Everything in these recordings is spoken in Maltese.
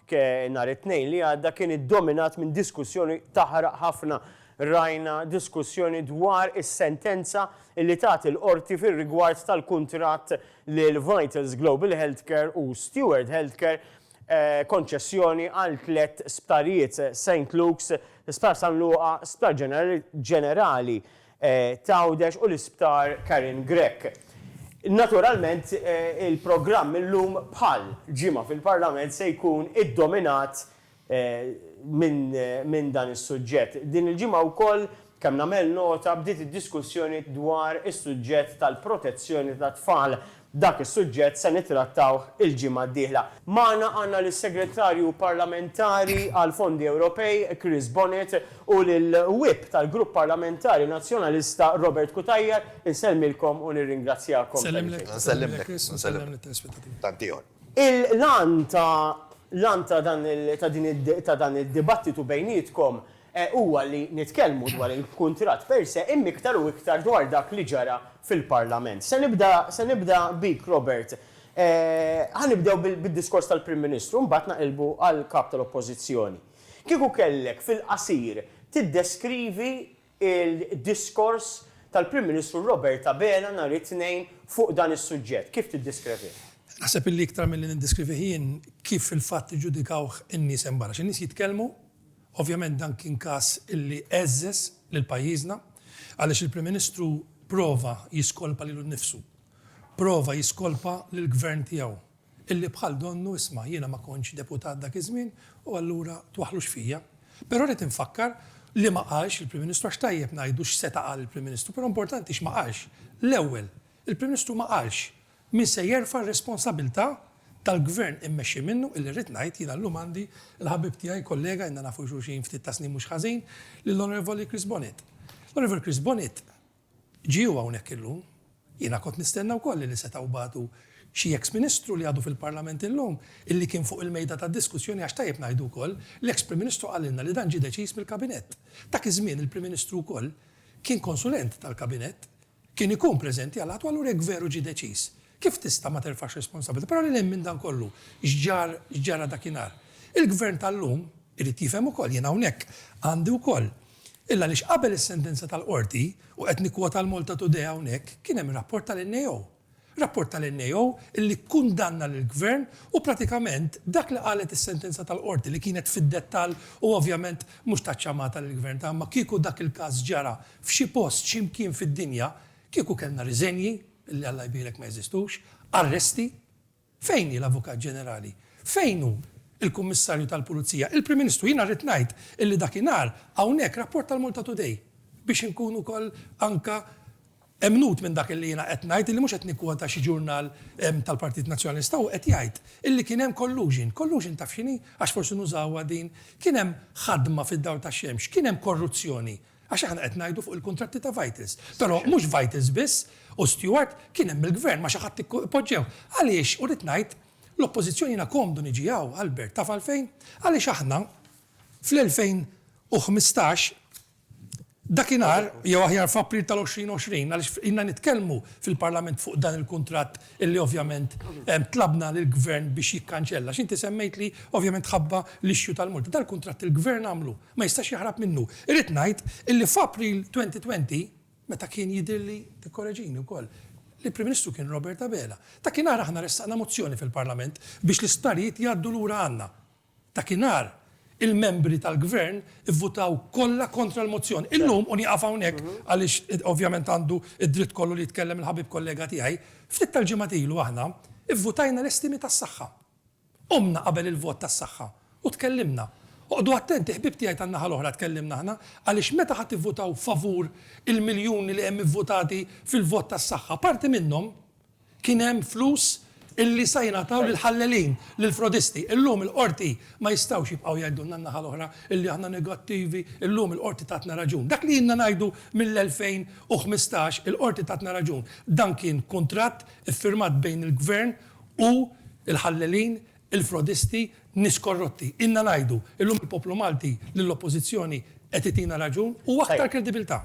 Anke nhar it-Tnejn li għadda kien iddominat minn diskussjoni taħraq ħafna. Rajna diskussjoni dwar is-sentenza li tat il-Qorti fir-rigward tal-kuntratt lil Vitals Global Healthcare u Steward Healthcare, konċessjoni għal tliet sptarijiet, Saint Luke's, Sptar San Luqa, Sptar Ġenerali, t'Għawdex u l-Isptar Karen Grech. Naturalment il-programm illum bħal ġimgħa fil-Parlament se jkun iddominat minn dan is-suġġett. Din il-ġimgħa wkoll, kemm nagħmel nota, bdiet id-diskussjoni dwar is-suġġett tal-protezzjoni tat-tfal Dak is-suġġett se nittrattawh il-ġimgħa d-dieħla. Magħna għandna lis-Segretarju Parlamentari għall-Fondi Ewropej, Chris Bonett, u lill-Whip tal-Grupp Parlamentari Nazzjonalista, Robert Cutajar. Insellmilkom u nirringrazzjakom tal-li ġejtu. Nsellimlek, nsellimlek. Tantieħor. Il-għan ta' l-għan ta' dan ta' din ta' dan id-dibattitu bejnietkom huwa li nitkellmu dwar il-kuntratt per se imma iktar u iktar dwar dak li ġara fil-Parlament. Se nibda se nibda bik Robert. Ħa nibdew bid-diskors tal-Prim Ministru mbagħad naqilbu għall-Kap tal-Oppożizzjoni. Kieku kellek fil-qasir tiddeskrivi l-diskors tal-Prim Ministru Robert Abela nhar it-Tnejn fuq dan is-suġġett, kif tiddiskrevih? Naħseb illi iktar milli niddiskrivih jien, kif fil-fatt iġġudikawh in-nies hemm barra. Xi nies jitkellmu Ovvjament dan kien każ li għeżżeż lil pajjiżna għaliex il-Prim Ministru prova jiskolpa lilu nnifsu. Prova jiskolpa lill-Gvern tiegħu illi bħal donnu isma' jiena ma kontx deputat dak iż-żmien u allura twaħħlux fija. Però rrid infakkar li ma qalx il-Prim Ministru għax tajjeb ngħidu x'seta' qal il-Prim Ministru, però importanti x'ma qalx. L-ewwel, il-Prim Ministru ma qalx Min se jerfa' r-responsabilità tal-Gvern immexxi minnu, illi rrid ngħid, jiena llum għandi l-ħabib tiegħi, kollega, ilna nafu xulxin ftit ta' snin mhux ħażin, lill-Onorevoli Chris Bonett. L-Onorevoli Chris Bonett ġie hu hawnhekk illum. Jiena kont nistenna wkoll illi setgħu bagħtu xi eks Ministru li għadu fil-Parlament illum, illi kien fuq il-mejda tad-diskussjoni għax tajjeb ngħidu wkoll, l-eks Prim Ministru qalilna li dan ġie deċiż mill-Kabinett. Dak iż-żmien il-Prim Ministru wkoll kien konsulent tal-Kabinett, kien ikun preżenti għal Għatwa allura jekk veru ġie deċiż, kif tista' ma terfax responsabilità? Però lil hinn minn dan kollu, x'ġar, x'ġara dakinhar? Il-Gvern tal-lum irid jifhem ukoll, jien hawnhekk għandi wkoll il għaliex qabel is-sentenza tal-Qorti, u qed nikkwota l-Maltatoday hawnhekk, kien hemm rapport tal-NAO. Rapport tal-NAO li kkundanna lill-Gvern u pratikament dak li qalet is-sentenza tal-Qorti li kienet fid-dettall u ovvjament mhux tat ċamata lill-Gvern ta' imma kieku dak il-każ ġara f'xi post xi mkien fid-dinja kieku kellna riżenji, li Alla jbierek ma jeżistux, arresti, Fejn hi l-Avukat Ġenerali? Fejn hu l-Kummissarju tal-Pulizija? Il-Prim Ministru, jiena rrid ngħid illi dakinhar hawnhekk rapporta l-Malta Today, biex inkun ukoll anke emnut minn dak illi jiena qed ngħid, illi mhux qed nikkwota xi ġurnal tal-Partit Nazzjonalista, hu qed jgħid illi kien hemm collusion. Collusion taf x'inhi? Għax forsi nużawha din. Kien hemm ħadma fid-dawl tax-xemx. Kien hemm korruzzjoni. Għax aħna qed ngħidu fuq il-kuntratti ta' Vitals. Però mhux Vitals biss u Steward, kien hemm il-Gvern ma' xi ħadd poġġew. Għaliex, u rrid ngħid, l-Oppożizzjoni jiena komdu niġi hawn, Albert, taf għalfejn? Għaliex aħna fl-2015, dakinhar, jew aħjar f'April tal-2020, għaliex ilna nitkellmu fil-Parlament fuq dan il-kuntratt illi ovvjament tlabna lill-Gvern biex jikkanċella, x'inti semmejtli, ovvjament ħabba l-issue tal-multi. Dal-kuntratt il-Gvern għamlu, ma jistax jaħrab minnu. Irrid ngħid illi f'April 2020, meta kien jidhirli, tikkoreġini wkoll, li l-Prim Ministru kien Robert Abela, dakinhar aħna ressaqna mozzjoni fil-Parlament biex l-isptarijiet jgħaddu lura għandna. Dakinhar, il-membri tal-Gvern ivvutaw kollha kontra l-mozzjoni. Illum, u nieqaf hawnhekk għaliex ovvjament għandu d-dritt kollu li jitkellem il-ħabib kollega tiegħi, ftit tal-ġimgħat ilu aħna vvutajna l-estimi tas-saħħa. Qumna qabel il-vot tas-saħħa u tkellimna. Oqgħdu attenti ħbieb tiegħi tan-naħa l-oħra tkellimna aħna għaliex meta ħa tivvutaw favur il-miljuni li hemm ivvutati fil-vot tas-saħħa, parti minnhom, Kien hemm flus illi sa jingħataw lill-ħallelin, lill-frodisti. Illum il-Qorti ma jistgħux jibqgħu jgħidulna n-naħa l-oħra illi aħna negattivi, illum il-Qorti tatna raġun. Dak li ilna ngħidu mill-2015, il-Qorti tatna raġun. Dan kien kuntratt iffirmat bejn il-Gvern u l-ħallelin il-frodisti, nies korrotti. Ilna ngħidu, illum il-poplu Malti li l-Oppożizzjoni qed itina raġun u aktar kredibiltà.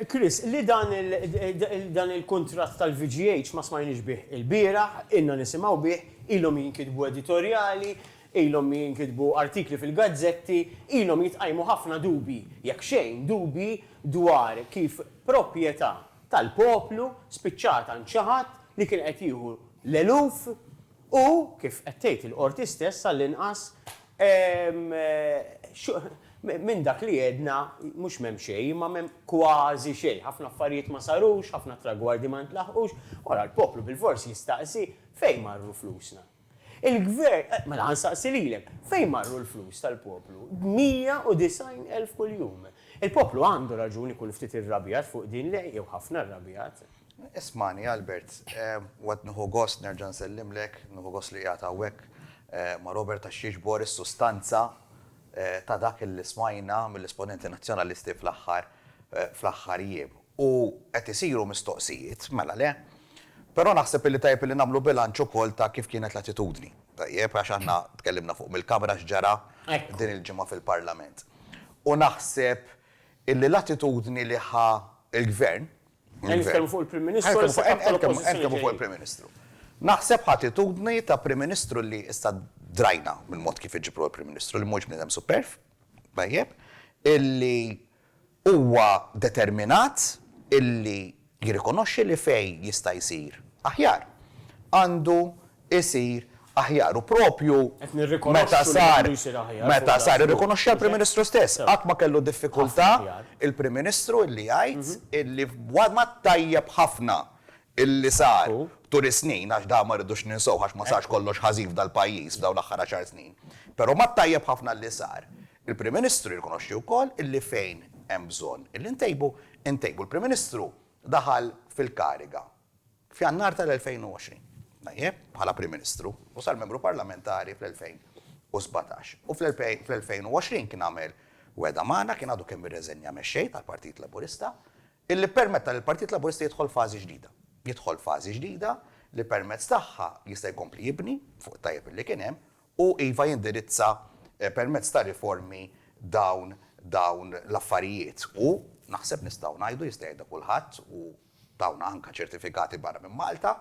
Chris, li dan il-kuntratt tal-VGH ma smajniex bih ilbieraħ, ilna nisimgħu bih, ilhom jinkitbu editorjali, ilhom jinkitbu artikli fil-gazzetti, ilhom jitqajmu ħafna dubji, jekk xejn dubji dwar kif proprjetà tal-poplu spiċċat għand xi ħadd li kien qed jieħu l-eluf U, kif qed tgħid il-Qorti stess, għall-inqas, minn dak li għedna, mhux m'hemm xejn, imma m'hemm kważi xejn. Ħafna affarijiet ma sarux, ħafna tragwardi ma ntlaħqux. U ara l-poplu bilfors jistaqsi, fejn marru flusna? Il-Gvern, mela ħa nsaqsi lilek, fejn marru l-flus tal-poplu? 190,000 kuljum. Il-poplu għandu raġun ikun ftit irrabjat fuq din, le, jew ħafna rrabjat. Ismagħni, Albert, u qed nieħu gost nerġa' nsellimlek, nieħu gost li qiegħed hawnhekk ma' Robert għax jiġbor is-sustanza ta' dak li smajna mill-esponenti Nazzjonalisti fl-aħħar fl-aħħar jiem. U qed isiru mistoqsijiet, mela le? Però naħseb illi tajjeb illi nagħmlu bilanċ ukoll ta' kif kienet l-attitudni, tajjeb, għax aħna tkellimna fuq mill-Kamra x'ġara din il-ġimgħa fil-Parlament. U naħseb illi l-attitudni li ħa l-Gvern, Qed nitkellmu fuq il-Prim Ministru u issa Kap tal-Oppożizzjoni ġejjin. Qed nitkellmu fuq il-Prim Ministru. Naħseb ħ'attitudni ta' Prim Ministru li issa drajna mill-mod kif iġibruh il-Prim Ministru li mhuwiex bniedem superv, tajjeb, illi huwa determinat illi jirrikonoxxi li fejn jista' jsir aħjar għandu isir aħjar u proprju meta sar meta sar irrikonoxxiha l-Prim Ministru stess. Qatt ma kellu diffikultà il-Prim Ministru illi jgħid illi wara t-tajjeb ħafna illi sar tul is-snin, għax dan ma rridux ninsew għax ma sarx kollox ħażin f'dal-pajjiż f'dawn l-aħħar għaxar snin, però mat-tajjeb ħafna illi sar, il-Prim Ministru jirrikonoxxi wkoll illi fejn hemm bżonn illi ntejbu, intejbu. Il-Prim Ministru daħal fil-kariga. F'Jannar tal-2020, Najeb, bħala Prim Ministru, u sar Membru Parlamentari fl-2017. U fl-2020 kien għamel wegħda magħna, kien għadu kemm irreżenja Mexxej tal-Partit Laburista, illi ppermetta lill-Partit Laburista jidħol fażi ġdida. Jidħol fażi ġdida li permezz tagħha jista' jkompli jibni fuq it-tajjeb illi kien hemm u, iva, jindirizza permezz ta' riformi dawn dawn l-affarijiet u, naħseb nistgħu ngħidu, jista' jgħidha kulħadd u dawn anke ċertifikati barra minn Malta,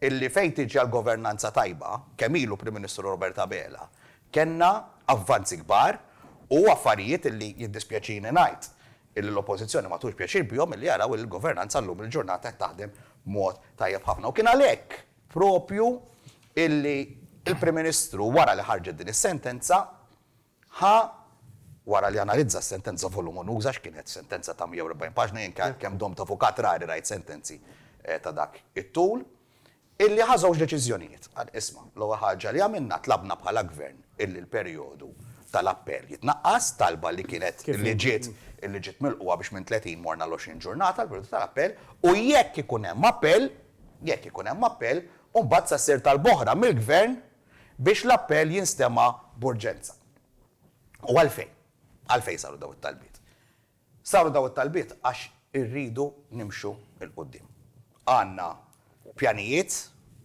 illi fejn tiġi għall-governanza tajba, kemm ilu Prim Ministru Robert Abela, kellna avvanzi kbar u affarijiet illi jiddispjaċini ngħid illi l-Oppożizzjoni ma tħux pjaċir bihom illi jaraw illi l-governanza llum il-ġurnata qed taħdem b'mod tajjeb ħafna. U kien għalhekk proprju illi l-Prim Ministru wara li ħarġet din is-sentenza Ħa, wara li analizza s-sentenza volumunuża, x'kienet, sentenza ta' 140 paġna, jien kemm domt avukat rari rajt sentenzi ta' dak it-tul, illi ħa żewġ deċiżjonijiet. Qal, isma', l-ewwel ħaġa li għamilna tlabna bħala Gvern illi l-perjodu tal-appell jitnaqqas, talba li kienet li ġiet li ġiet milqugħa biex minn 30 morna għal 20 ġurnata l-perjodu tal-appell, u jekk ikun hemm appell, jekk ikun hemm appell, imbagħad sa ssir talba oħra mill-Gvern biex l-appell jinstema' b'urġenza. U għalfejn? Għalfejn saru dawn it-talbiet? Saru dawn it-talbiet għax irridu nimxu 'l quddiem. Għandna pjanijiet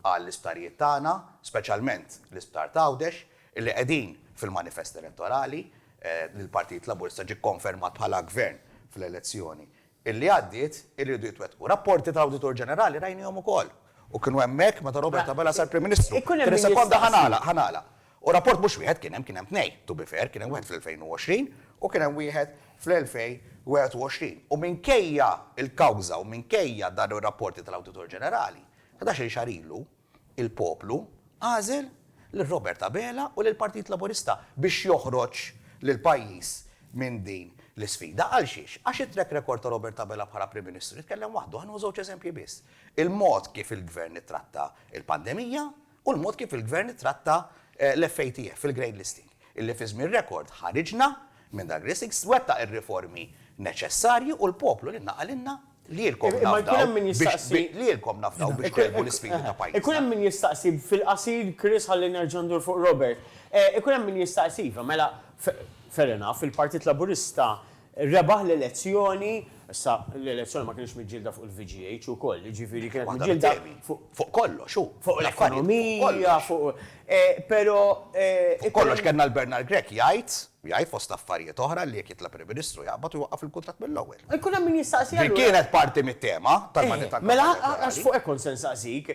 għall-isptarijiet tagħna, speċjalment l-isptar t'Għawdex, li qegħdin fil-manifest elettorali li l-Partit Laburista ġie kkonfermat bħala Gvern fl-elezzjoni illi għaddiet iridu jitwettqu. Rapporti ta' Awditur Ġenerali rajnihom ukoll u kienu hemmhekk meta Robert Abela sar Prim Ministru. F'tri sekonda ħa nagħlaq, ħa nagħlaq. U rapport mhux wieħed kien hemm, kien hemm tnejn, to be fair, kien hemm wieħed fl-2020 u kien hemm wieħed fl-2021. U minkejja l-kawża u minkejja dawn ir-rapporti tal-Awditur Ġenerali, ħdax-il xahar ilu, Il-poplu għażel lil Robert Abela u lill-Partit Laburista biex joħroġ lill-pajjiż minn din l-isfida. Għalxiex? Għax it-track record ta' Robert Abela bħala Prim Ministru jitkellem waħdu. Ħa nieħu żewġ eżempji biss, il-mod kif il-Gvern ittratta l-pandemija u l-mod kif il-Gvern ittratta l-FATF, il-grade listing, illi fi żmien rekord ħariġna minn dak listing, wettaq ir-riformi neċessarji u l-poplu lilna qalilna Lilkom nafdaw biex lilkom nafdaw biex tgħelbu l-isfidi ta' pajjiżna. Ikun hemm min jistaqsi, fil-qasir Chris ħalli nerġa' ndur fuq Robert, ikun hemm min jistaqsi, iva mela fair enough, il-Partit Laburista rebaħ l-elezzjoni, issa l-elezzjoni ma kinitx miġġielda fuq il-VGH ukoll, jiġifieri kienet miġġielda fuq. Fuq kollox hu. Fuq l-ekonomija, fuq. Però. Fuq kollox kellna l-Bernard Grech jgħid. Jgħid, fost affarijiet oħra, li jekk jitla' Prim Ministru jaqbad u jwaqqaf il-kuntratt mill-ewwel. Jkun hemm min jistaqsi allura. Din kienet parti mit-tema tal-mandat tal-kampanja elettorali. Eħe, mela għax fuq hekk kont se nsaqsik.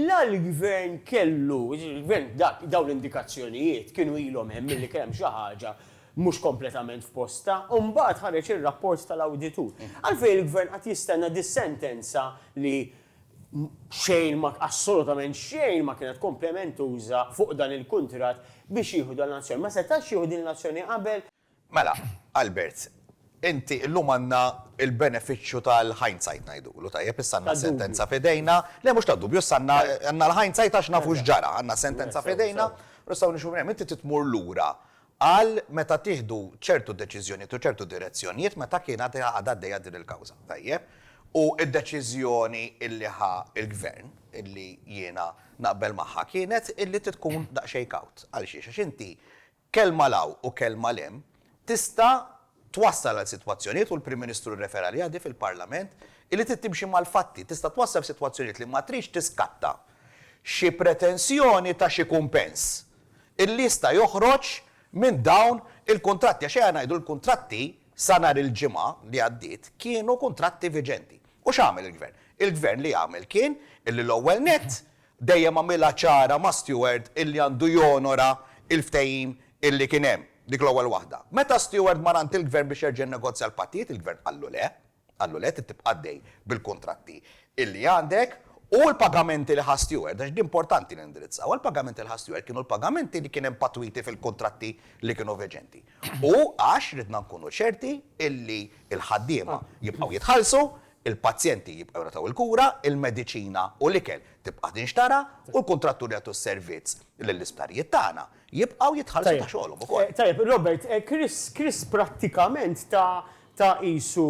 La l-Gvern kellu, il-Gvern dak, dawn l-indikazzjonijiet kienu ilhom hemm milli kien hemm xi ħaġa mhux kompletament f'postha u mbagħad ħareġ ir-rapport tal-awditur. Għalfejn il-Gvern qagħad jistenna dis-sentenza li Xejn ma, assolutament xejn ma kienet komplementuża fuq dan il-kuntratt biex jieħu dan l-azzjoni. Ma setax jieħu din l-azzjoni qabel. Mela, Albert, inti illum għandna l-benefiċċju tal-hindsight ngħidulu, tajjeb, issa għandna sentenza f'idejna, le mhux tad-dubju, issa għandna għandna l-hindsight għax nafu x'ġara, għandna sentenza f'idejna u nistgħu nimxu minn hemm. Inti trid tmur lura Qal meta tieħdu ċertu deċiżjonijiet u ċertu direzzjonijiet meta kien għad għadha għaddejja din il-kawża, tajjeb? U d-deċiżjoni illi ħa l-Gvern, illi jiena naqbel magħha, kienet illi tkun daqsxejn kawt. Għalxiex? Għax inti kelma 'l hawn u kelma 'l hemm tista' twassal għal sitwazzjonijiet, u l-Prim Ministru rrefera għaliha di fil-Parlament, illi trid timxi mal-fatti, tista' twassal f'sitwazzjonijiet li ma tridx tiskatta xi pretensjoni ta' xi kumpens illi jista' joħroġ minn dawn il-kuntratti, għax ejja ngħidu li l-kuntratti sa nhar il-Ġimgħa li għaddiet kienu kuntratti viġenti. U x'għamel il-Gvern? Il-Gvern li għamel kien illi l-ewwel nett dejjem għamilha ċara ma' Steward illi għandu jonora l-ftehim illi kien hemm. Dik l-ewwel waħda. Meta Steward mar għand il-Gvern biex jerġa' jinnegozja l-pattijiet, il-Gvern qallu le, qallu le trid tibqa' għaddej bil-kuntratti illi għandek u l-pagamenti li ħa Steward, għax di importanti li nindirizzawha, l-pagamenti li ħa Steward kienu l-pagamenti li kien hemm patwiti fil-kuntratti li kienu veġenti. U għax ridna nkunu ċerti illi l-ħaddiema jibqgħu jitħallsu, Il-pazjenti jibqgħu jingħataw il-kura, il-mediċina u l-ikel tibqa' tinxtara u l-kuntratturi jagħtu s-servizz lill-isptarijiet tagħna jibqgħu jitħallsu ta' xogħolhom ukoll. Tajjeb, Robert, Chris prattikament ta ta qisu,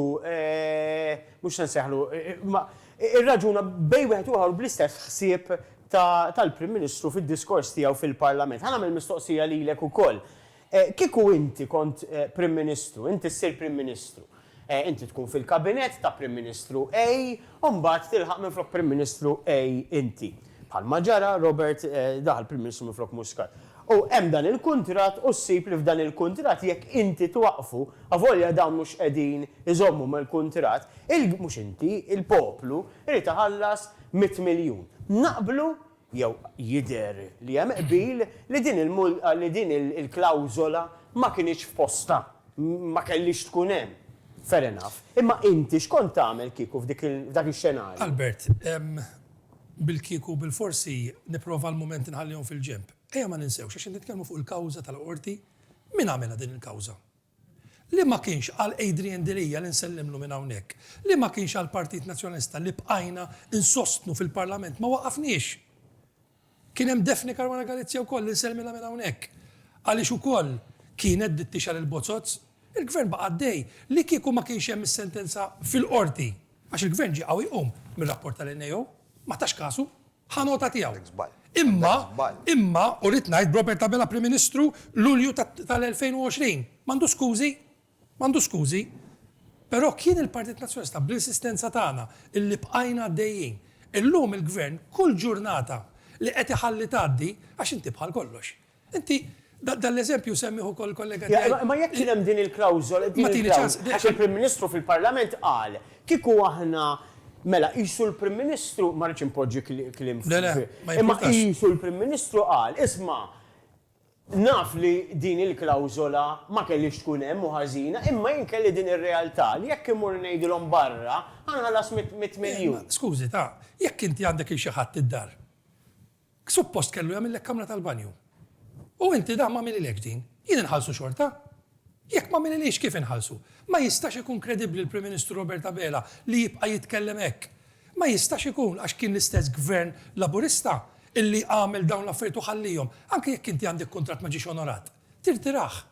mhux se nsejħlu, imma irraġuna bejn wieħed u ieħor bl-istess ħsieb ta tal-Prim Ministru fid-diskors tiegħu fil-Parlament. Ħa nagħmel mistoqsija lilek ukoll. Kieku inti kont Prim Ministru, inti ssir Prim Ministru. Inti tkun fil-Kabinett ta' Prim Ministru A u mbagħad tilħaq minflok Prim Ministru A inti. Bħalma ġara, Robert daħal Prim Ministru minflok Muscat. U hemm dan il-kuntratt u ssib li f'dan il-kuntratt jekk inti twaqqfu, avolja dawn mhux qegħdin iżommu mal-kuntratt, il-, mhux inti, il-poplu jrid iħallas mitt miljun. Naqblu jew jidher li hemm qbil li din il li din il-klawżola ma kinitx f'postha, ma kellhiex tkun hemm. Fair enough. Imma inti x'kont tagħmel kieku f'dik il f'dak ix-xenarju? Albert, bil-kieku u bil-forsi nipprova għal mument inħallihom fil-ġenb. Ejja ma ninsewx, għax qed nitkellmu fuq il-kawża tal-Qorti, min għamilha din il-kawża? Li ma kienx għal Adrian Delia li nsellimlu minn hawnhekk, li ma kienx għall-Partit Nazzjonalista li bqajna nsostnu fil-Parlament ma waqqafniex. Kien hemm Daphne Caruana Galizia wkoll li nsellmilha minn hawnhekk għaliex ukoll kienet dittixha lil Bozotz. Il-Gvern baqa' għaddej. Li kieku ma kienx hemm is-sentenza fil-Qorti, għax il-Gvern ġie qawwi jqum mir-rapport tal-NAO, ma tax kasu. Ħa nota tiegħu. Imma, imma, u rrid ngħid b'Robert Abela Prim Ministru, Lulju tal-2020, m'għandu skużi, m'għandu skużi. Però kien il-Partit Nazzjonalista bl-insistenza tagħna illi bqajna għaddejjin. Illum il-Gvern kull ġurnata li qed iħalli tgħaddi, għax inti bħal kollox, Inti dan l-eżempju semmieh ukoll il-kollega tiegħi. Ja, imma jekk kien hemm din il-klawżola, din il-klawżola, għax il-Prim Ministru fil-Parlament qal, kieku aħna, mela qisu l-Prim Ministru, ma rridx inpoġġi kliem fi, imma qisu l-Prim Ministru qal, isma', naf li din il-klawżola ma kellhiex tkun hemm u ħażina, imma jien kelli din ir-realtà li jekk immur ngħidilhom barra, ħa nħallas mitt miljun. Skużi, ta, jekk inti għandek lil xi ħadd id-dar, Suppost kellu jagħmillek kamra tal-banju. U inti dan m'għamililekx din. Jien inħallsu xorta? Jekk m'għamililhiex kif inħallsu? Ma jistax ikun kredibbli l-Prim Ministru Robert Abela li jibqa' jitkellem hekk. Ma jistax ikun għax kien l-istess Gvern Laburista illi għamel dawn l-affarijiet u ħalliehom. Anke jekk inti għandek kuntratt ma ġiex onorat. Tirtirah.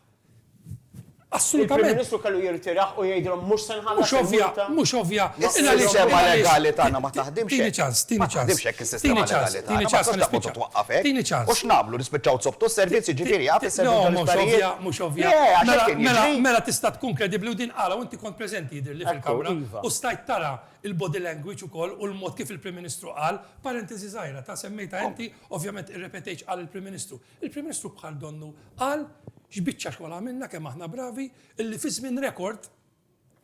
Assolutament. Il-Prim Ministru kellu jirtirah u jgħidilhom mhux se nħallas il-multa. Mhux ovvja, mhux ovvja. Is-sistema legali tagħna ma taħdimx hekk. Tini ċans, tini ċans. Ma taħdimx hekk is-sistema legali tagħna. Tini ċans, tini ċans. Ma tistax twaqqaf hekk. Tini ċans. U x'nagħmlu nispiċċaw nsobtu s-servizzi ġifieri jaf is-servizzi tal-isptarijiet. No, mhux ovvja, mhux ovvja. Mela, mela tista' tkun kredibbli u din qala u inti kont preżenti jidhirli fil-Kamra u stajt tara l-body language ukoll u l-mod kif il-Prim Ministru qal, parentesi żgħira ta' semmejtha inti, ovvjament irrepetejtx qal il-Prim Ministru. Il-Prim Ministru bħal donnu qal x'biċċa xogħol għamilna, kemm aħna bravi, illi fi żmien rekord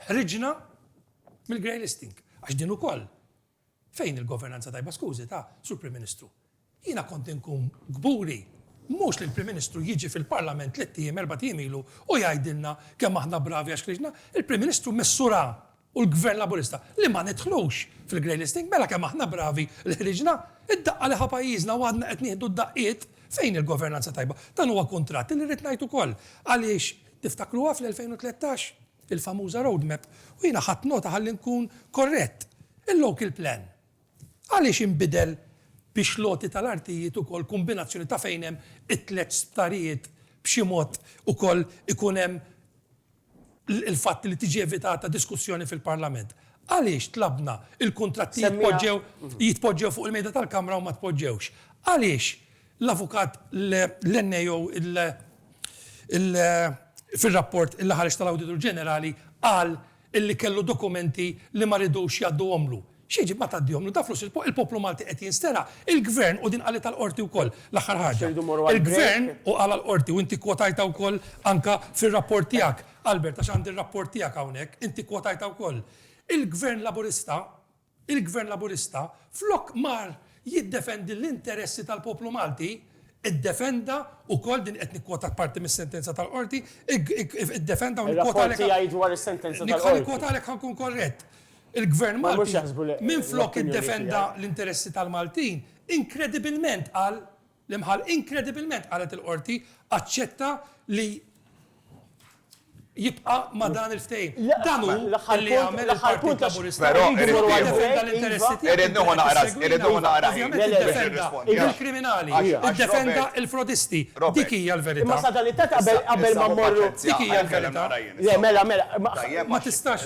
ħriġna mill-grey listing. Għax din ukoll fejn il-governanza tajba skużi ta' sur Prim Ministru. Jiena kont inkun kburi mhux li l-Prim Ministru jiġi fil-Parlament tliet ijiem erba' ijiem ilu u jgħidilna kemm aħna bravi għax ħriġna, il-Prim Ministru missura u l-Gvern Laburista li ma nidħlux fil-grey listing, mela kemm aħna bravi li ħriġna, id-daqqa li ħa pajjiżna u għadna qed nieħdu d-daqqiet fejn il-governanza tajba. Dan huwa kuntratt li rrid ngħid ukoll għaliex tiftakruha fl-2013? Il-famuża road map u jiena ħadt nota ħalli nkun korrett. Il-local plan għaliex inbidel biex l-għoti tal-artijiet ukoll kombinazzjoni ta' fejn hemm it-tliet sptarijiet b'xi mod ukoll ikun hemm il-fatt li tiġi evitata diskussjoni fil-Parlament. Għaliex tlabna l-kuntratti jitpoġġew jitpoġġew fuq il-mejda tal-Kamra u ma tpoġġewx? Għaliex l-avukat Lennie jew il il fir-rapport li ħareġ tal-Awditur Ġenerali qal illi kellu dokumenti li ma ridux jgħadduhomlu? Xi jġib ma tgħaddihom l-unità flus il-poplu Malti qed jinstera, il-Gvern u din qalitha l-Qorti wkoll l-aħħar ħaġa. Il-Gvern u qalha l-Qorti u inti kkwotajtha wkoll anke fir-rapport tiegħek, Albert, għax għandi r-rapport tiegħek hawnhekk, inti kkwotajtha wkoll. Il-Gvern Laburista, il-Gvern Laburista flok mar jiddefendi l-interessi tal-poplu Malti, iddefenda wkoll, din qed nikkwotak parti mis-sentenza tal-Qorti, iddefenda u nikkwotalek. Ir-rapport tiegħi dwar is-sentenza tal-Qorti. Ħa nikkwotalek ħa nkun korrett. Il-Gvern Malti, minflok iddefenda l-interessi tal-Maltin, inkredibilment, qal l-imħall, inkredibilment, qalet il-Qorti, aċċetta li jibqa' ma' dan il-ftehim. Dan hu li għamel il-Partit Laburista. Però irrid nieħu. Jekk jiddefenda l-interessi tiegħek. Irrid nieħu naqra ħin. Irrid nieħu naqra ħin. Ovvjament jiddefenda il-kriminali. Jiddefenda l-frodisti. Dik hija l-verità. Imma sa dan it-tant qabel ma mmorru. Dik hija l-verità. Le, mela, mela. Ma tistax.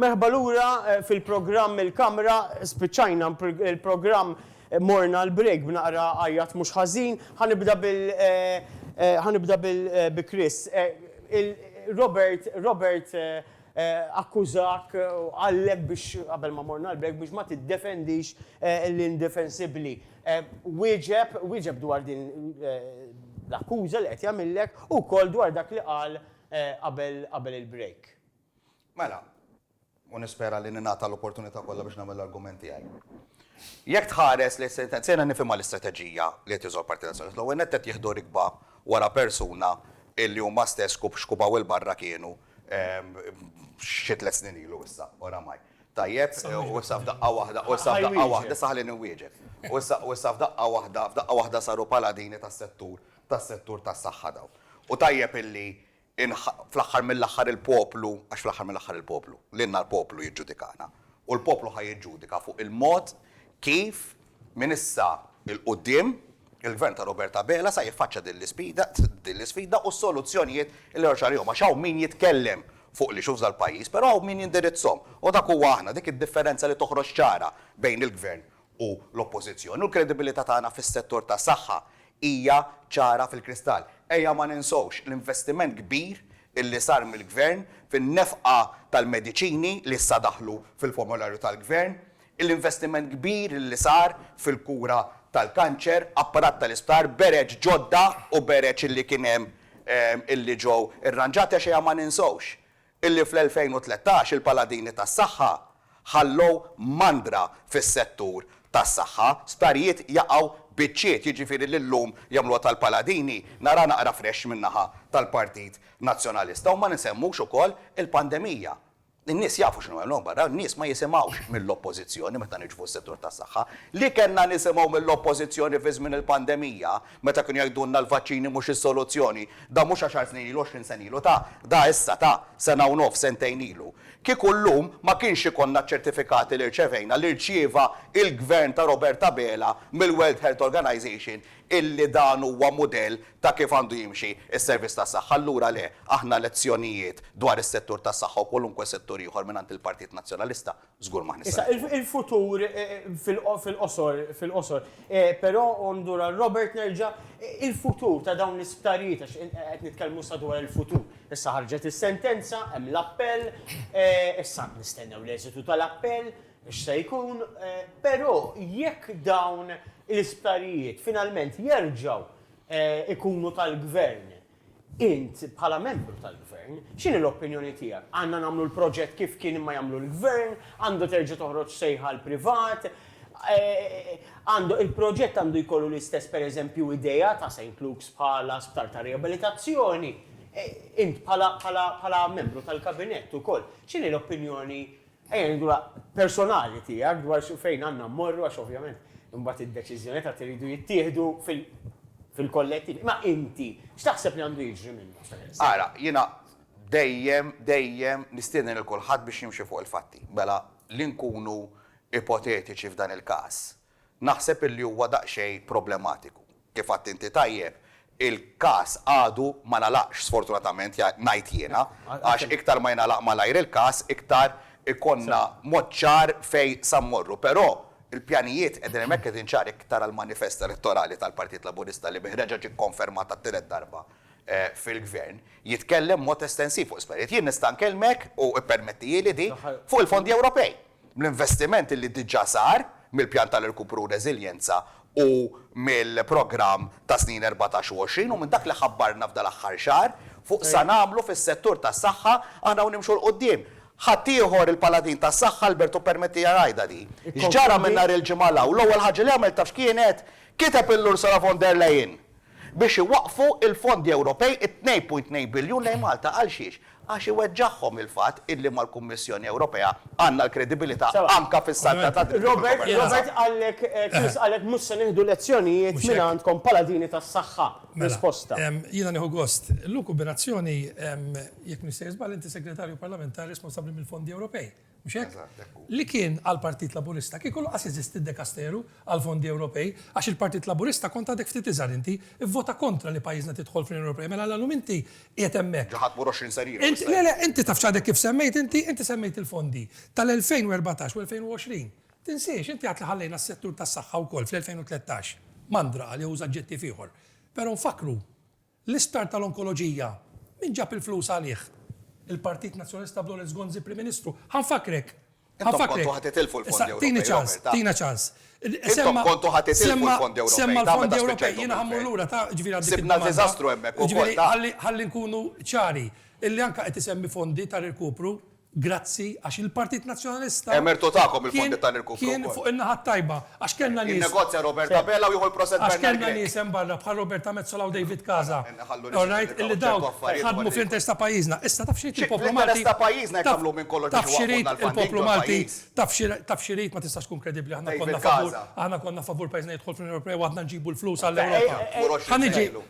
Merħba lura eh, fil-programm il-kamra, spiċċajna il-programm eh, morna l-break b'naqra għajjat mhux ħażin, ħanibda bil eh, ħanibda bil Chris. Robert Robert akkużak u qallek biex, qabel ma morna l-break, biex ma tiddefendix l-indefensibbli. Wieġeb, wieġeb dwar din l-akkuża li qed jagħmillek u wkoll dwar dak li qal qabel qabel il-break. Mela, u nispera li ningħata l-opportunità kollha biex nagħmel l-argument tiegħi. Jekk tħares lejn sentenza, jiena nifhimha l-istrateġija li qed jużaw l-Partit Nazzjonalista. L-ewwel nett qed jieħdu rikba wara persuna illi huma stess xkupaw 'il barra kienu xi tliet snin ilu issa, oramaj. Tajjeb, u issa f'daqqa waħda, u issa f'daqqa waħda, issa ħallini nwieġeb. U issa f'daqqa waħda, f'daqqa waħda saru paladini tas-settur, tas-settur tas-saħħa dawn. U tajjeb illi fl-aħħar mill-aħħar il-poplu, għax fl-aħħar mill-aħħar il-poplu, lilna l-poplu jiġġudikana. U l-poplu ħa jiġġudika fuq il-mod kif Minn issa 'l quddiem, il-Gvern ta' Robert Abela sa jiffaċċja din l-isfida u s-soluzzjonijiet li joħroġ għalihom għax hawn min jitkellem fuq l-issues tal-pajjiż però hawn min jindirizzhom u dak huwa aħna, dik id-differenza li toħroġ ċara bejn il-Gvern u l-Oppożizzjoni u l-kredibilità tagħna fis-settur tas-saħħa hija ċara fil-kristall. Ejja ma ninsewx l-investiment kbir li sar mill-Gvern fin-nefqa tal-mediċini li issa daħlu fil-formularju tal-Gvern, l-investiment kbir li sar fil-kura tal-kanċer, apparat tal-isptar, bereġ ġodda u bereġ li kien hemm li ġew irranġati għax ejja ma ninsewx li fl-2013 il-paladini tas-saħħa ħallew mandra fis-settur tas-saħħa, sptarijiet jaqgħu biċċiet, jiġifieri li llum jagħmluha tal-paladini naraha naqra fresh min-naħa tal-Partit Nazzjonalista u ma nisemmux ukoll il-pandemija. In-nies jafu x'inhu hemm hawn barra, n-nies ma jisimgħux mill-Oppożizzjoni meta niġu fuq is-settur tas-saħħa. Li kellna nisimgħu mill-Oppożizzjoni fi żmien il-pandemija meta kienu jgħidulna l-vaċċini mhux is-soluzzjoni, da mhux għaxar snin ilu, għoxrin sena ilu, ta, da issa, ta, sena u nofs, sentejn ilu. Kieku llum ma kienx ikollna ċ-ċertifikati li rċevejna li rċieva il-Gvern ta' Robert Abela mill-World Health Organization illi dan huwa mudell ta' kif għandu jimxi s-servizz tas-saħħa, allura le, aħna lezzjonijiet dwar is-settur tas-saħħa u kwalunkwe settur ieħor mingħand il-Partit Nazzjonalista żgur m'aħna se nieħdu. Issa, il-futur fil-qosor, fil-qosor, però u ndur għal Robert nerġa', il-futur ta' dawn l-isptarijiet għax qed nitkellmu issa dwar il-futur. Issa ħarġet is-sentenza, hemm l-appell, issa nistennew l-eżitu tal-appell, x'se jkun, però jekk dawn l-isptarijiet finalment jerġgħu ikunu tal-Gvern. Int, bħala membru tal-Gvern, x'inhi l-opinjoni tiegħek? Għandna nagħmlu l-proġett kif kien imma jagħmlu l-Gvern? Għandu terġa' toħroġ sejħa għall-privat? Għandu, il-proġett għandu jkollu l-istess per eżempju idea ta' Saint Luke's bħala sptar ta' riabilitazzjoni? Int bħala, bħala, bħala membru tal-Kabinett ukoll, x'inhi l-opinjoni Ejja ngħidu la personali tiegħek dwar xi fejn għandna mmorru għax ovvjament imbagħad id-deċiżjonijiet għad iridu jittieħdu fil fil-kollettiv. Imma inti x'taħseb li għandu jiġri minna pereżempju? Ara, jiena dejjem, dejjem nistieden lil kulħadd biex jimxi fuq il-fatti. Mela li nkunu ipotetiċi f'dan il-każ, Naħseb illi huwa daqsxejn problematiku. Kif għidt inti tajjeb, il-każ għadu ma ngħalaqx sfortunatament, ngħid jiena, għax iktar ma jingħalaq malajr il-każ iktar ikollna mod ċar fejn sa mmorru. Però l-pjanijiet qegħdin hemmhekk qegħdin ċari jekk tara l-manifest elettorali tal-Partit Laburista li bih reġa' ġie kkonfermat għat-tielet darba fil-Gvern, jitkellem b'mod estensiv fuq l-isptarijiet. Jien nista' nkellmek, u ippermettijieli di, fuq il-fondi Ewropej. Bl-investiment li diġà sar mill-Pjan ta' Rkupru u Reżiljenza u mill-programm tas-snin erbatax u għoxrin u minn dak li ħabbarna f'dal-aħħar xahar fuq sa nagħmlu fis-settur tas-saħħa aħna u nimxu 'l quddiem. Ħaddieħor il-paladin tas-saħħa Albert u permettija ngħidha di. X'ġara minn nhar il-Ġimgħa 'l hawn? L-ewwel ħaġa li għamel taf x'kienet? Kiteb il-Ursula von der Leyen! biex iwaqqfu l-fondi Ewropej, it-tnejn punt tnejn biljun lejn Malta. Għalxiex? Għax iweġġagħhom il-fatt illi mal-Kummissjoni Ewropea għandna l-kredibilità anke fis-saltna tad-dritt u fil-konverġenza. Robert, Robert qalek, Chris qalek mhux se nieħdu lezzjonijiet minn għandkom paladini tas-saħħa. Risposta. Mela, jiena nieħu gost. L-hu kumbinazzjoni, jekk m'iniex se jiżball, inti Segretarju Parlamentari responsabbli mill-fondi Ewropej. Mhux hekk? Eżatt, hekk hu. Li kien għall-Partit Laburista kieku lanqas jeżisti d-dekasteru għall-fondi Ewropej, għax il-Partit Laburista kont għadek ftit iżgħar inti, ivvota kontra li pajjiżna tidħol fl-Unjoni Ewropea, mela għala llum inti qiegħed hemmhekk? Ġo ħadt mur 20 sena ilu issa. Le, le, inti tafx għadek kif semmejt inti, inti semmejt il-fondi tal-2014 u 2020. Tinsiex, inti għedt li ħallejna s-settur tas-saħħa wkoll fl-2013. Mandra, għal jew uża aġġettiv ieħor. Però nfakkru, L-isptar tal-onkoloġija, min ġab il-flus għalih? Il-Partit Nazzjonalista b'Lawrence Gonzi Prim Ministru. Ħa nfakkrek. Intom kontu ħa titilfu l-fondi Ewropej, Robert. Issa, tini ċans, tina ċans. Intom kontu ħa titilfu l-fondi Ewropej. Semma l-fondi Ewropej, jiena ħa mmur lura, ta, ġifieri għal dik il-domanda. Sibna diżastru hemmhekk ukoll, ta. Ġifieri, ħalli nkunu ċari, illi anke qed isemmi fondi ta' rkupru, Grazzi għax il-Partit Nazzjonalista kien kien fuq in-naħa t-tajba għax kellna nies għax kellna nies hemm barra bħal Roberta Metsola u David Casa orajt illi dawn ħadmu fl-interess ta' pajjiżna. Issa taf x'irid il-poplu Malti taf x'irid il-poplu Malti taf xi taf x'irid ma tistax tkun kredibbli aħna konna favur aħna konna favur pajjiżna jidħol fl-Unjoni Ewropea u għadna nġibu l-flus għall-Ewropa. Ħa niġi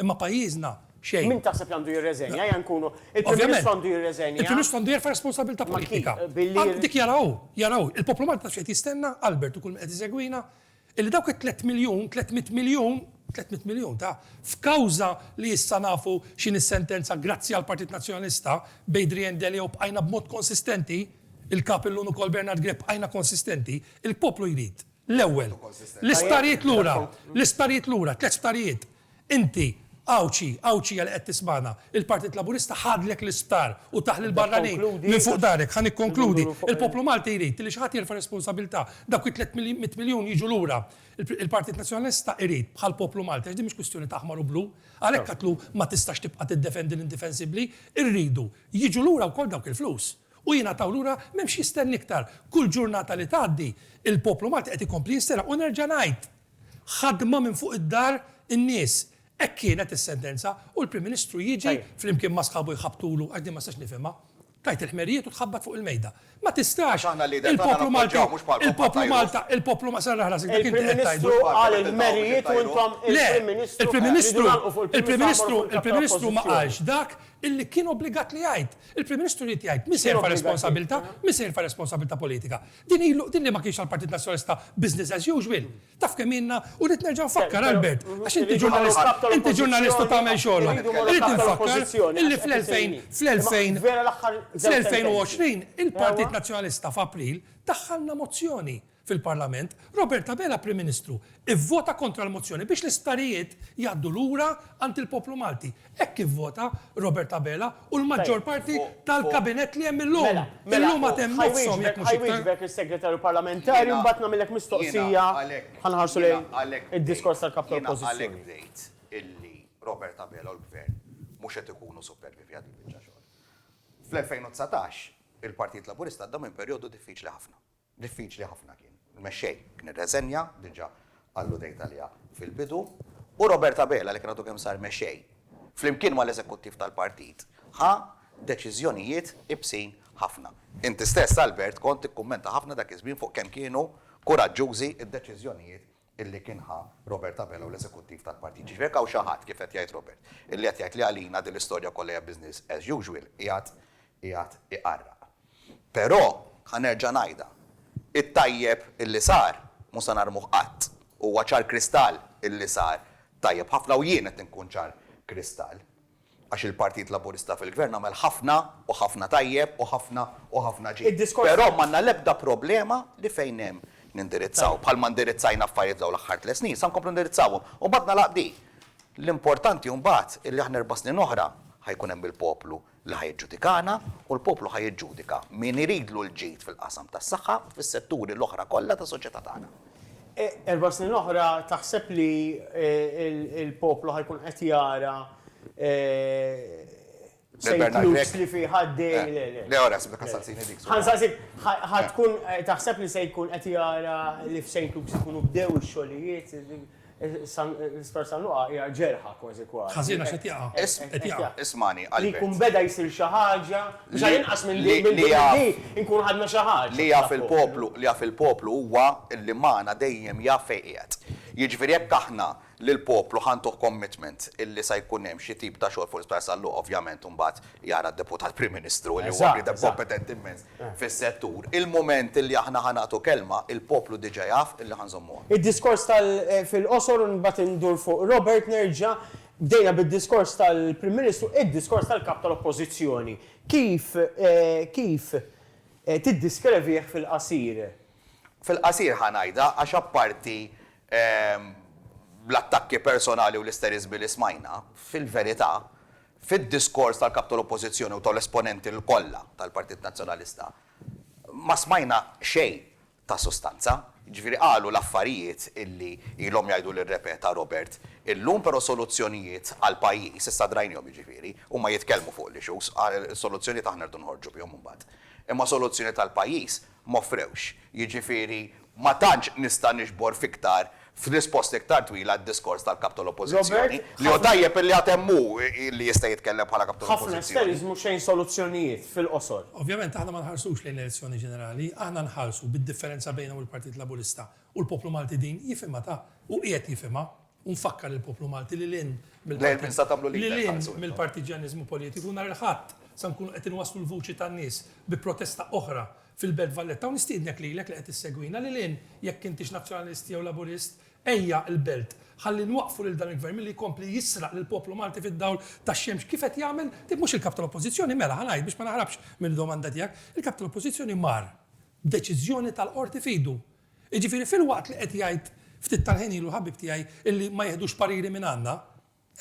Imma pajjiżna, xejn. Min taħseb li għandu jirreżenja, eja nkunu, il-Prim Ministru għandu jirreżenja? Il-Prim Ministru għandu jerfa' responsabilità politika. Dik jaraha hu, jaraha hu. Il-poplu Malti taf x'qed jistenna, Albert u kull min qed isegwina, illi dawk it-tliet miljun, tliet mitt miljun, tliet mitt miljun ta' f'kawża li issa nafu x'inhi s-sentenza grazzi għall-Partit Nazzjonalista b'Adrian Delia u bqajna b'mod konsistenti, il-Kap illum ukoll Bernard Grech bqajna konsistenti, il-poplu jrid. L-ewwel, l-isptarijiet lura, l-isptarijiet lura, tliet sptarijiet. Inti, Għawdxi, Għawdxija li qed tismagħna, il-Partit Laburista ħadlek l-isptar u tah lill-barranin minn fuq darek. Ħa nikkonkludi. Il-poplu Malti jrid li xi ħadd jerfa' responsabilità. Dawk it-tliet mitt miljun jiġu lura. Il-Partit Nazzjonalista jrid, bħall-poplu Malti, għax din mhix kwistjoni ta' aħmar u blu, għalhekk qatlu ma tistax tibqa' tiddefendi l-indifensibbli, irridu jiġu lura wkoll dawk il-flus. u jingħataw lura m'hemmx jistenni iktar. Kull ġurnata li tgħaddi, il-poplu Malti qed ikompli jinsteraq u nerġa' ngħid, ħadma minn fuq id-dar in-nies. Hekk kienet is-sentenza u l-Prim Ministru jiġi flimkien ma' sħabu jħabbtulu, għax din ma nistax nifhimha, tgħid il-ħmerijiet u tħabbat fuq il-mejda. Ma tistax! Il-poplu Malti, il-poplu Malta, il-poplu Malti, serraħ rasek dak inti qed tgħidu. Il-Prim Ministru qal il-ħmerijiet u intom, il-Prim Ministru, tridu tagħlqu fuq il-Prim Ministru, għamlu fuq il-Kap tal-Oppożizzjoni. Le, il-Prim Ministru, il-Prim Ministru ma qalx dak, illi kien obbligat li jgħid. Il-Prim Ministru ried jgħid min se jerfa' responsabilità, min se jerfa' responsabilità politika. Din ilu, din li ma kienx għall-Partit Nazzjonalista business as usual. Taf kemm ilna? U rrid nerġa' nfakkar, Albert, għax inti ġurnalist, inti ġurnalist u tagħmel xogħlok, irrid infakkar illi fl-2000, fl-2000, fl-2020 il-Partit Nazzjonalista f'April daħħalna mozzjoni. Fil-Parlament, Robert Abela, Prim Ministru, ivvota kontra l-mozzjoni biex l-isptarijiet jgħaddu lura għand il-poplu Malti. Hekk kif vota Robert Abela u l-maġġor parti tal-Kabinett li hemm illum. Illum għad hemm nofshom jekk mhux iktar. Ħajwieġbek is-Segretarju Parlamentari u mbagħad nagħmillek mistoqsija. Ħa nħarsu lejn id-diskors tal-Kap tal-Oppożizzjoni. Jiena għalhekk bdejt illi Robert Abela u l-Gvern mhux qed ikunu superbi fi ħadd il-biċċa xogħol. Fl-2019, il-Partit Laburista għadda minn perjodu diffiċli ħafna. Diffiċli ħafna kien. Il-mexxej kien irreżenja, diġà alludejt għaliha fil-bidu, u Robert Abela li kien għadu kemm sar mexxej, flimkien mal-eżekuttiv tal-partit, ħa deċiżjonijiet iebsin ħafna. Inti stess, Albert, kont tikkummenta ħafna dak iż-żmien fuq kemm kienu kuraġġużi d-deċiżjonijiet illi kien ħa Robert Abela u l-eżekuttiv tal-partit. Jiġifieri jekk hawn xi ħadd, kif qed jgħid Robert, illi qed jgħid li għalina din l-istorja kollha hija business as usual, qiegħed qiegħed iqarraq. Però, ħa nerġa' ngħidha, it-tajjeb illi sar mhu se narmuh qatt. Huwa ċar kristall illi sar tajjeb ħafna u jien qed inkun ċar kristall. għax il-Partit Laburista fil-Gvern għamel ħafna u ħafna tajjeb u ħafna u ħafna ġid. Però m'għandna l-ebda problema li fejn hemm nindirizzaw. Bħalma ndirizzajna affarijiet f'dawn l-aħħar tliet snin, se nkomplu ndirizzawhom. U mbagħad nagħlaq b'di. L-importanti mbagħad li aħna erba' snin oħra ħa jkun hemm il-poplu li ħa jiġġudikana u l-poplu ħa jiġġudika min iridlu l-ġid fil-qasam tas-saħħa u fis-setturi l-oħra kollha tas-soċjetà tagħna. Erba' snin oħra taħseb li l-poplu ħa jkun qed jara St. Luke's li fih għaddej le le. Le ora ħsibtek ħansaqsini dik. Ħansaqsik ħa tkun taħseb li se jkun qed jara li f'St. Luke's ikunu bdew ix-xogħlijiet? L-Isptar San Luqa hija ġerħa kważi kważi. Ħażin għax qed jaqa'. Qed jaqa'. Ismagħni, Albert. Li jkun beda jsir xi ħaġa, biex għal inqas minn din minn din li nkunu ħadna xi ħaġa. Li jaf il-poplu, li jaf il-poplu huwa li magħna dejjem jaf fejn qiegħed. Jiġifieri jekk aħna lill-poplu ħa ntuh commitment illi sa jkun hemm xi tip ta' xogħol fuq l-Isptar San Luqa, ovvjament imbagħad jara d-Deputat Prim Ministru li huwa bniedem kompetenti mmens fis-settur. Il-mument li aħna ħa nagħtu kelma, il-poplu diġà jaf illi ħa nżommuha. Id-diskors tal fil-qosor u mbagħad indur fuq Robert nerġa'. Bdejna bid-diskors tal-Prim Ministru, id-diskors tal-Kap tal-Oppożizzjoni kif kif tiddiskrevih fil-qasir? Fil-qasir ħa ngħidha għax apparti l-attakki personali u l-isteriżmi li smajna, fil-verità Fid-diskors tal-Kap tal-Oppożizzjoni u tal-esponenti l-kollha tal-Partit Nazzjonalista ma smajna xejn ta' sustanza. Jiġifieri qalu l-affarijiet illi ilhom jgħidu li rrepeta Robert illum, però soluzzjonijiet għall-pajjiż issa drajnihom jiġifieri. Huma jitkellmu fuq l-issues, soluzzjonijiet aħna rridu noħorġu bihom imbagħad. Imma soluzzjonijiet għall-pajjiż m'offrewx, jiġifieri ma tantx nista' niġbor f'iktar, f'risposta iktar twila d-diskors tal-Kap tal-Oppożizzjoni, li hu tajjeb illi għad hemm hu li jista' jitkellem bħala Kap tal-Oppożizzjoni. Ħafna esteriżmu xejn soluzzjonijiet, fil-qosor. Ovvjament aħna ma nħarsux lejn l-elezzjoni ġenerali, aħna nħarsu bid-differenza bejna u l-Partit Laburista u l-poplu Malti din jifhimha ta' u qiegħed jifhimha. u nfakkar lill-poplu Malti li lil hinn mill-partiġġjaniżmu politiku, nhar il-Ħadd se nkunu qed inwasslu l-vuċi tan-nies bi protesta oħra fil-Belt Valletta u nistiednek lilek li qed issegwina lil hinn jekk intix Nazzjonalist jew Laburist, ejja l-Belt, ħalli nwaqqfu lil dan il-Gvern milli jkompli jisraq lill-poplu Malti fid-dawl tax-xemx kif qed jagħmel, tib mhux il-Kap tal-Oppożizzjoni, mela ħa ngħid biex ma naħrabx mill-domanda tiegħek, il-Kap tal-Oppożizzjoni mar b'deċiżjoni tal-Qorti f'idu, Jiġifieri filwaqt li qed jgħid ftit tal-ħin ilu ħabib tiegħi illi ma jiħdux pariri mingħandna,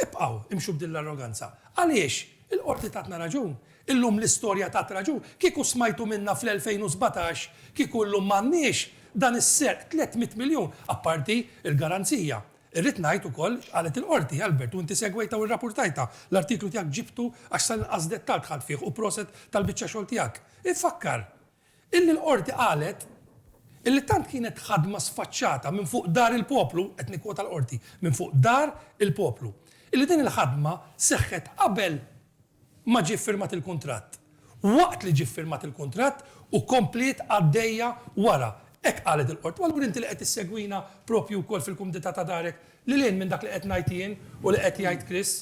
ibqgħu imxu b'din l-arroganza. Għaliex? Il-Qorti tatna raġun. Illum l-istorja tat raġun. Kieku smajtu minnha fl-2017 kieku llum m'għandniex dan is-serq 300 miljun, apparti l-garanzija. Irrid ngħid ukoll x'qalet il-Qorti, Albert, u inti segwejtha u rrapurtajtha. L-artiklu tiegħek ġibtu għax sal-inqas dettall dħalt fih u proset tal-biċċa xogħol tiegħek. Infakkar Illi l-Qorti qalet illi tant kienet ħadma sfaċċata minn fuq dar il-poplu, qed nikkwota l-Qorti, minn fuq dar il-poplu, illi din il-ħadma seħħet qabel ma ġie ffirmat il-kuntratt, waqt li ġie ffirmat il-kuntratt u kompliet għaddejja wara. Hekk qalet il-Qorti. U allura inti li qed issegwina proprju wkoll fil-kumdità ta' darek, lil hinn minn dak li qed ngħid jien u li qed jgħid Chris,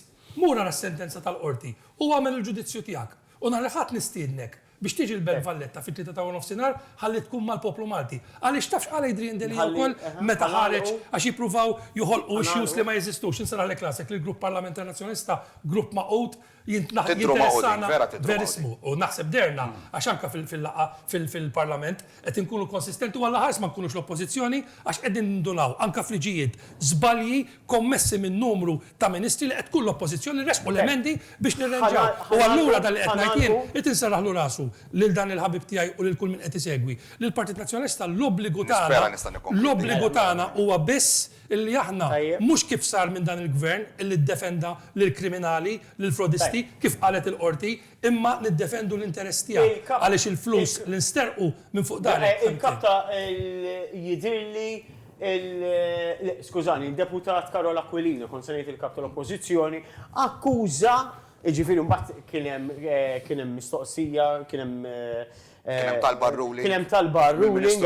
mur ara s-sentenza tal-Qorti u agħmel il-ġudizzju tiegħek. U nhar il-Ħadd nistiednek Biex tiġi l-Belt Valletta fit-tlieta ta' warnofsinhar ħalli tkun mal-poplu Malti. Għaliex taf x'qal Adrian Delia wkoll meta ħareġ għax jippruvaw joħolqu issues li ma jeżistux. Insarraħlek rasek li l-Grupp Parlamentari Nazzjonalista grupp magħqud jinteressana verissmu u naħseb dehrna għax anke fil-laqgħa fil-Parlament Qed inkunu konsistenti u allaħars ma nkunux l-Oppożizzjoni għax qegħdin nindunaw, anke f'liġijiet, żbalji kommessi minn numru ta' Ministri li qed tkun l-Oppożizzjoni ressqu l-emendi biex nirranġaw. U allura dan li qed ngħid jien, irid inserraħlu rasu lil dan il-ħabib tiegħi u lil kull min qed isegwi li l-Partit Nazzjonalista l-obbligu tagħna, l-obbligu tagħna huwa biss illi aħna, mhux kif sar minn dan il-Gvern illi ddefenda lill-kriminali, lill-frodisti, kif qalet il-Qorti, imma niddefendu l-interess tiegħi għaliex il-flus li nsterqu minn fuq dahar hekk fehmtni. Il-Kap ta' jidhirli l-, skużani, id-Deputat Karol Aquilino, kont se ngħid il-Kap tal-Oppożizzjoni, akkuża, jiġifieri mbagħad kien hemm mistoqsija, kien hemm Kien hemm talba għar-ruling. Kien hemm talba għar-ruling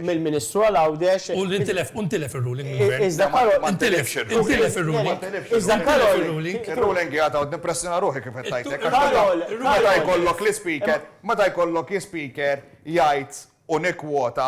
mill-Ministru għal Għawdex. U ntilef, u ntilef ir-ruling mill-Gvern. Iżda Karol. Ma ntilifx ir-ruling. Intilef ir-ruling. Ma ntilifx ir-ruling. Iżda Karol. Ir-ruling. Ir-ruling qiegħed hawn nippressjona ruħi kif qed tgħidlek. Karol. Meta jkollok l-Ispeaker, meta jkollok l-Ispeaker jgħid u nikkwota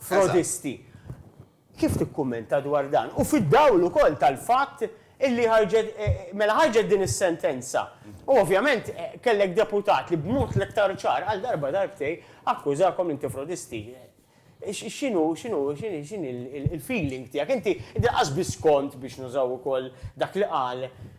frodisti. Kif tikkummenta dwar dan? U fid-dawl ukoll tal-fatt illi ħarġet, mela ħarġet din is-sentenza u ovvjament kellek deputat li b'mod l-iktar ċar qal darba darbtejn akkużakom li inti frodisti. X'inhu, x'inhu, x'inhi l-feeling tiegħek? Inti, inti lanqas biss kont, biex nużaw ukoll dak li qal,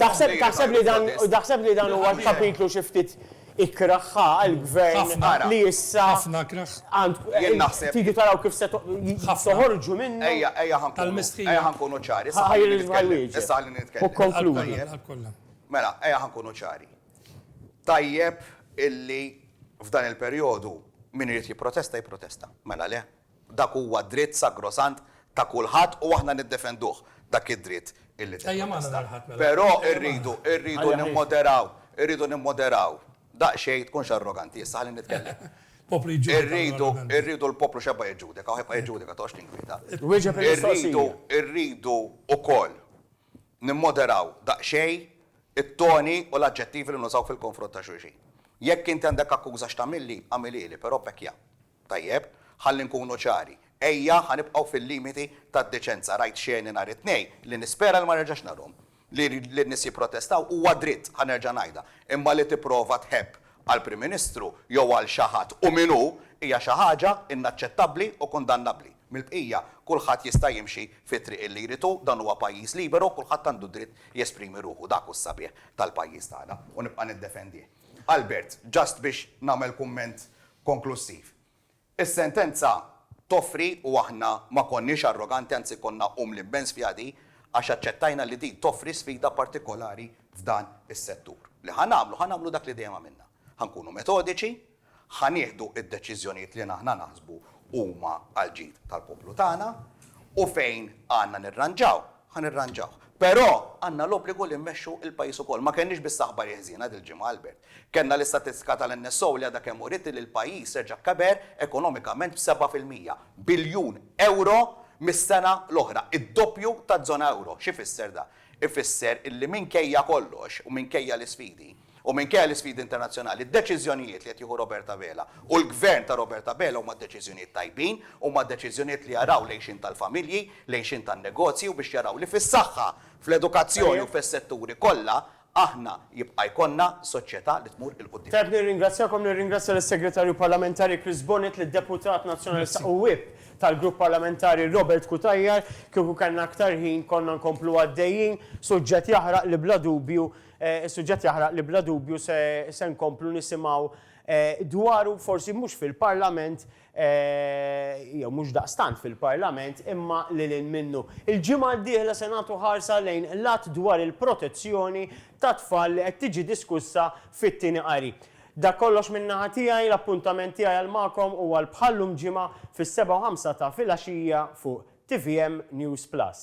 Taħseb li dan taħseb li dan huwa l-kapitlu xi ftit ikrah ħa għall-Gvern li issa tridu taraw kif se toħorġu minnu? Ejja ħa nkunu ċari. Issa ħalli nitkellem. Mela, ejja ħa nkunu ċari. Tajjeb illi f'dan il-perjodu min irid jipprotesta jipprotesta. Mela le? Dak huwa dritt sagrosant ta' kulħadd u aħna niddefenduh dak id-dritt illi tikkontesta. Però rridu, rridu nimmoderaw, irridu nimmoderaw daqsxejn, tkunx arroganti issa, ħalli nitkellem. Irridu, irridu l-poplu x'ebqa' jiġġudika, u ħ'jibqa' jiġġudika, toqgħodx tinkwieta. Irridu, irridu wkoll nimmoderaw daqsxejn it-toni u l-aġġettivi li nużaw fil-konfront ta' xulxin. Jekk inti għandek akkuża x'tagħmilli, agħmilhieli, però pekkja. Tajjeb, ħalli nkunu ċari. Ejja, ħa nibqgħu fil-limiti tad-deċenza. Rajt xeni nhar it-Tnejn li nispera li ma nerġax narhom. Li n-nies jipprotestaw huwa dritt, ħa nerġa' ngħidha, imma li tipprova tħebb għall-Prim Ministru jew għal xi ħadd u min hu hija xi ħaġa inaċċettabbli u kundannabbli. Mill-bqija, kulħadd jista' jimxi fit-triq li jrid hu, dan huwa pajjiż liberu, kulħadd għandu d-dritt jesprimi ruħu. Dak hu s-sabiħ tal-pajjiż tagħna u nibqa' niddefendih. Albert, just biex nagħmel kumment konklussiv. Is-sentenza toffri, u aħna ma konniex arroganti anzi konna umli immens fiha di, għax aċċettajna li din toffri sfida partikolari f'dan is-settur. Li ħa nagħmlu, ħa nagħmlu dak li dejjem għamilna. Ħa nkunu metodiċi, ħa nieħdu d-deċiżjonijiet li aħna naħsbu huma għall-ġid tal-poplu tagħna u fejn għandna nirranġaw, Ħa nirranġawh. Però għandna l-obbligu li mmexxu l-pajjiż ukoll. Ma kellniex biss aħbari ħżiena dil-ġimgħa, Albert. Kellna l-istatistika tal-NSO li għadha kemm uriet li l-pajjiż reġa' keber ekonomikament b'seba' fil-mija. Biljun ewro mis-sena l-oħra. Id-doppju taż-żona ewro. X'ifisser dan? Ifisser illi minkejja kollox u minkejja l-isfidi, U minkejja l-isfidi internazzjonali, d-deċiżjonijiet li qed jieħu Robert Abela u l-Gvern ta' Robert Abela huma deċiżjonijiet tajbin, huma deċiżjonijiet li jaraw l-għixien tal-familji, l-għixien tan-negozji u biex jaraw li fis-saħħa, fl-edukazzjoni u fis-setturi kollha aħna jibqa' jkollna soċjetà li tmur 'il quddiem. Tajjeb nirringrazzjakom, nirringrazzja lis-Segretarju Parlamentari Chris Bonett, lid-Deputat Nazzjonalista u Whip tal-Grupp Parlamentari Robert Cutajar. Kieku kellna aktar ħin konna nkomplu għaddejjin, suġġett jaħraq li bla dubju Is-suġġett jaħraq li bla dubju se nkomplu nisimgħu dwaru forsi mhux fil-Parlament jew mhux daqstant fil-Parlament imma lil hinn minnu. Il-ġimgħa d-dieħla se nagħtu ħarsa lejn l-Att dwar il-Protezzjoni tat-Tfal li qed tiġi diskussa fit-tieni qari. Dak kollox minn naħa tiegħi, l-appuntament tiegħi għal magħkom huwa għal bħal-lum ġimgħa fis-sebgħa u ħamsa ta' filgħaxija fuq tvm News Plus.